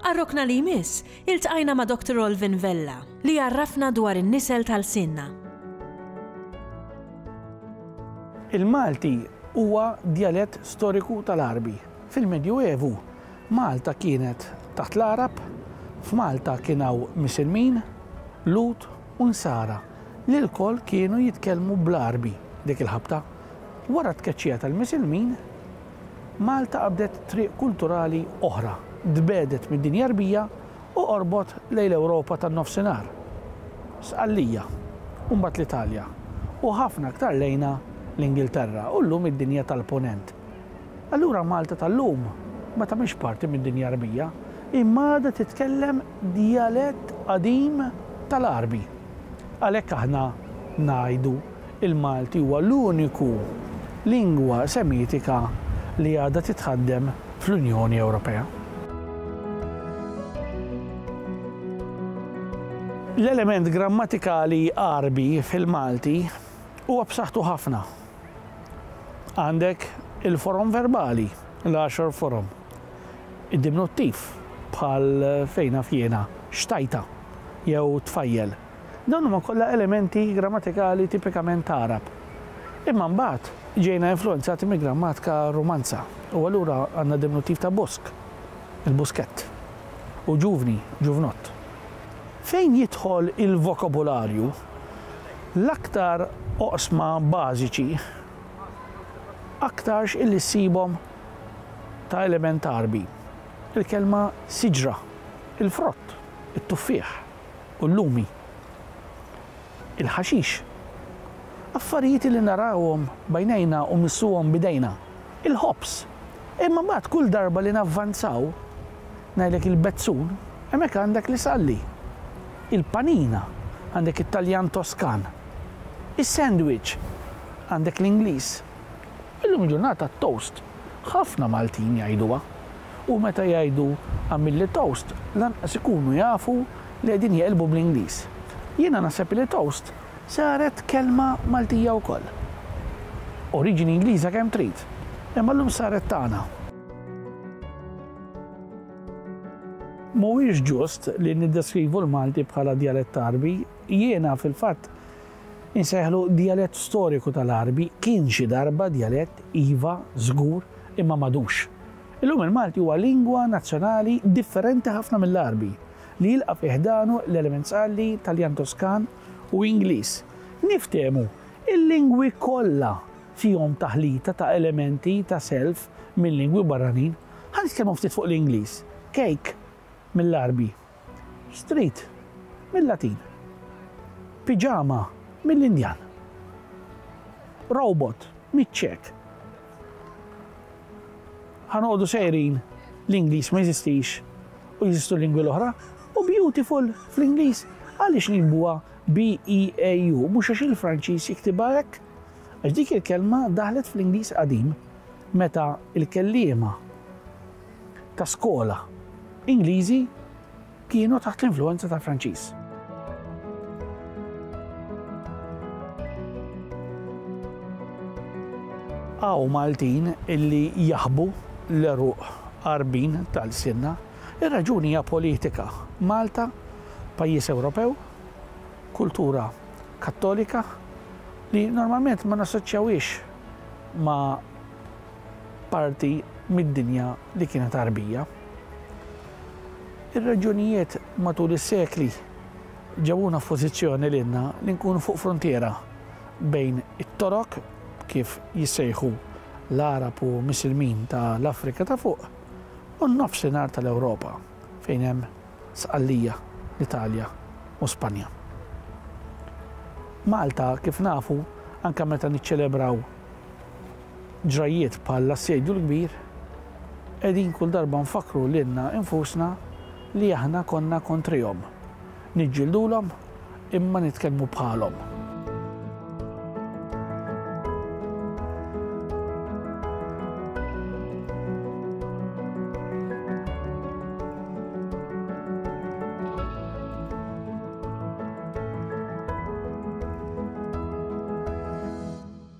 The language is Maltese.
Għar-rokna li jmiss, iltqajna ma' Doctor Olvin Vella, li jgħarrafna dwar in-nisel ta' lsienna. Il-Malti huwa djalett storiku tal-Għarbi. Fil-Medju Evu, Malta kienet taħt l-Għarab, f'Malta kien hawn Misilmin, Lhud u Nsara, li lkoll kienu jitkellmu bl-Għarbi dik il-ħabta. Wara t-tkeċċija tal-Misilmin, Malta qabdet triq kulturali oħra, tbegħdet mid-dinja Għarbija u qorbot lejn l-Ewropa tan-Nofsinhar, Sqallija, u mbagħad l-Italja, u ħafna aktar lejnha l-Ingilterra u llum id-dinja tal-Punent. Allura Malta tal-lum ma tagħmilx parti mid-dinja Għarbija, imma għadha titkellem djalett qadim tal-Għarbi. Għalhekk aħna ngħidu Il-Malti huwa l-uniku lingwa Semitika li għadha titħaddem fl-Unjoni Ewropea. L-element grammatikali Għarbi fil-Malti huwa b'saħħtu ħafna. Għandek il-forom verbali, l-għaxar forom, id-diminuttiv, bħal fejn naf jiena, xtajta, jew tfajjel. Dawn huma kollha elementi grammatikali tipikament Għarab. Imma mbagħad ġejna influwenzati mill-grammatika Rumanza u allura għandna diminuttiv ta' busk, il-buskett, u ġuvni, ġuvnott. Fejn jidħol il-vokabularju, l-aktar oqsma bażiċi aktarx illi ssibhom ta' element Għarbi, il-kelma siġra, il-frott, it-tuffieħ. u l-lumi, il-ħaxix, affarijiet li narawhom b'għajnejna u mmissuhom b'idejna, il-ħobż. Imma mbagħad kull darba li navvanzaw, ngħidlek il-bezzun, hemmhekk għandek l-isalli, il-panina, għandek it-Taljan Toskan, is-sandwich, għandek l-Ingliż. Illum il-ġurnata toast ħafna Maltin jgħiduha u meta jgħidu għamilli toast lanqas ikunu jafu li qegħdin jeqilbu bl-Ingliż. Jiena naħseb li toast saret kelma Maltija wkoll. Oriġini Ingliża kemm trid, imma llum saret tagħna. Mhuwiex ġust li niddeskrivu l-Malti bħala djalett Għarbi. Jiena fil-fatt Insejħlu djalett storiku tal-Għarbi, kien xi darba djalett, iva, żgur, imma m'għadux. Illum il-Malti huwa lingwa nazzjonali differenti ħafna mill-Għarbi, li jilqa' fi ħdanu l-element Sqalli, Taljan Toskan u Ingliż. Niftehmu, il-lingwi kollha fihom taħlita ta' elementi ta' self minn lingwi barranin. Ħa nitkellmu ftit fuq l-Ingliż, cake mill-Għarbi. Street, mil-Latin. Piġama, mill-Indjan. Robot, miċ-Ċek. Ħa noqogħdu sejrin l-Ingliż ma jeżistix u jeżistu l-lingwi l-oħra u beautiful fl-Ingliż għaliex nikbuha B-E-A-U mhux għax il-Franċiż jiktibha hekk. Għax dik il-kelma daħlet fl-Ingliż qadim meta il-kelliema ta' skola Ingliżi kienu taħt l-influwenza tal-Franċiż. Hawn Maltin illi jaħbu l-għeruq għarbin tal-sinna, ir-raġuni hija politika. Malta, pajjiż Ewropew, kultura kattolika li normalment ma nassoċjawiex ma' parti mid-dinja li kienet Għarbija. Ir-reġjunijiet matul is-sekli ġabuna f'pożizzjoni lilna li nkunu fuq fruntiera bejn it-Torok, kif jissejħu l-Għarab u Misilmin ta' l-Afrika ta' Fuq, u n-Nofsinhar ta' l-Ewropa, fejn hemm Sqallija, l-Italja u Spanja. Malta, kif nafu, anke meta niċċelebraw, Ġrajjiet bħall-Assedju l-Kbir qegħdin kull darba nfakkru lilna infusna li aħna konna kontrihom, niġġildulhom imma nitkellmu bħalhom.